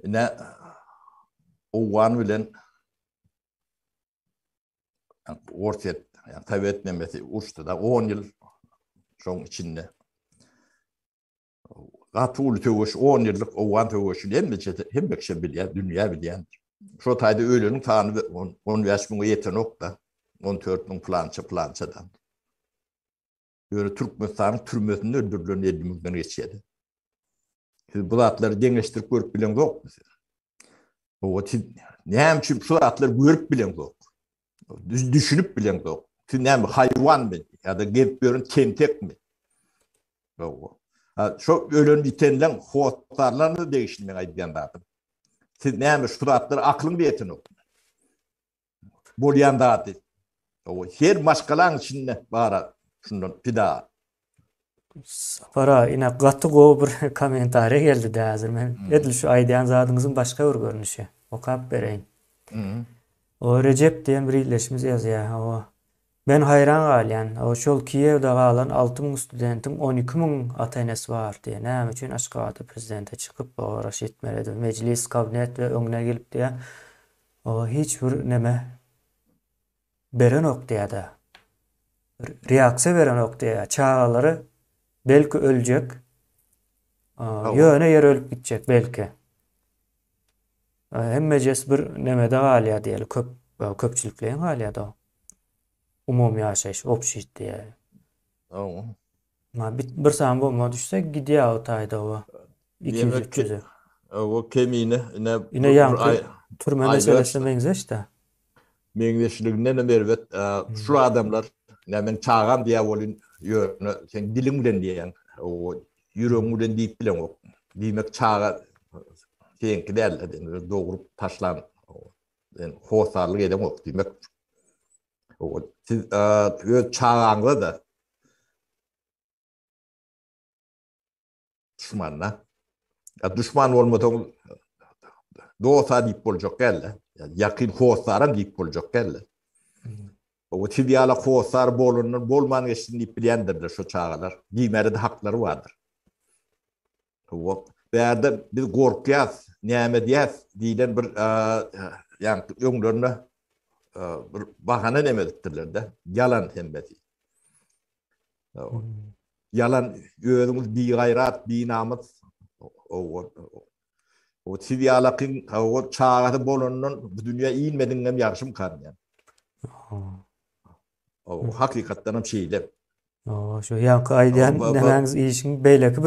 Ine owgan bilen Orsýet, ýa Sowet nemesi uruşdy-da on ýyl şoň içinde. Gaty uly söweş, on ýyllyk owgan söweşini hemme çete, hemme kişi bilýär, dünýä bilýän. Şo taýda öleniň sany on bäş müňe ýetenok-da, on dört müň plança plançadan. Ýöne Türkmenistanyň türmesinde öldürilen elli müňden geçýärdi. Siz bu zatlary deňeşdirip görüp bilen zokmy siz? Owa siz näme üçin şu zatlary görüp bilen zok? Düşünip bilen zok. Siz näme haýwan men ýa da gezip ýören tentek mi? Owa. Şu ölen bitenleň hotlarlaryna degişli men aýdýan zatym. Siz näme şu zatlary aklyň ýetenok? bolýan zady. Oý, her maşgalaň içinde bar-a şundan pida. Sapara, ine gaty gowy bir kommentariýa geldi-dä häzir. Men edil şu aýdýan zadyňyzyň başga bir görnüşi. Okap bereýin. Oý, Rejep diýen bir ildeşimiz ýazýar. Hawa. Men haýran galýan, şol Kiýewde galan alty müň studentiň on iki müň ata-enesi bar diýýä. Näme üçin Aşgabatda prezidente çykyp, oba garaş etmeli edip, mejlis, kabnet we öňüne gelip diýýä, oba hiç bir neme berenok diýýä-de, bir reaksiýa berenok diýýä, çagalary belki öljek, ýöne ýer ölüp gitjek belki. Hemmejes bir nemede galýa diýeli, köp köpçülikleýin galýa-da o. Umumy ýaşaýyş, obşit diýýär. Ow. Ma bit bir sany bomba düşse gidýär o taýda o. Iki ýüz, üç ýüz. Ow, o kemine ine. Ine ýaňky türme meselesine meňzeş-de. Meňzeşliginden hem erbet. Şul adamlar, ine men çagam diýýär welin, ýöne sen diliň bilen diýýäň, ow, ýüregiň bilen diýip bileňok. Diýmek çaga seňki däl-de, dogrup taşlan. Yani hossarlyk edeňok diýmek. Owal siz öz çagaňyza da düşmanla. Ya düşman olmasaň dosta diýip boljak geldi. Yani ýakyn hossara diýip boljak geldi. O siz ýala hossar bolundan bolman geçsin diýip bilýändirler şu çagalar. Diýmäre de haklary bardyr. Bu bärde biz gorkýas, näme edýäs diýlen bir ýaňky öňlerine bir bahana näme edipdirler-de, ýalan hemmesi. Ýalan özüňiz bigaýrat, binamys. O siz ýalakyň howur çagasy bolandan bu dünýä inmediňem ýagşymkan diýen. O hakykatdan hem şeýle. Owa, şu ýaňky aýdýan nämäňiz işiň beýleki bir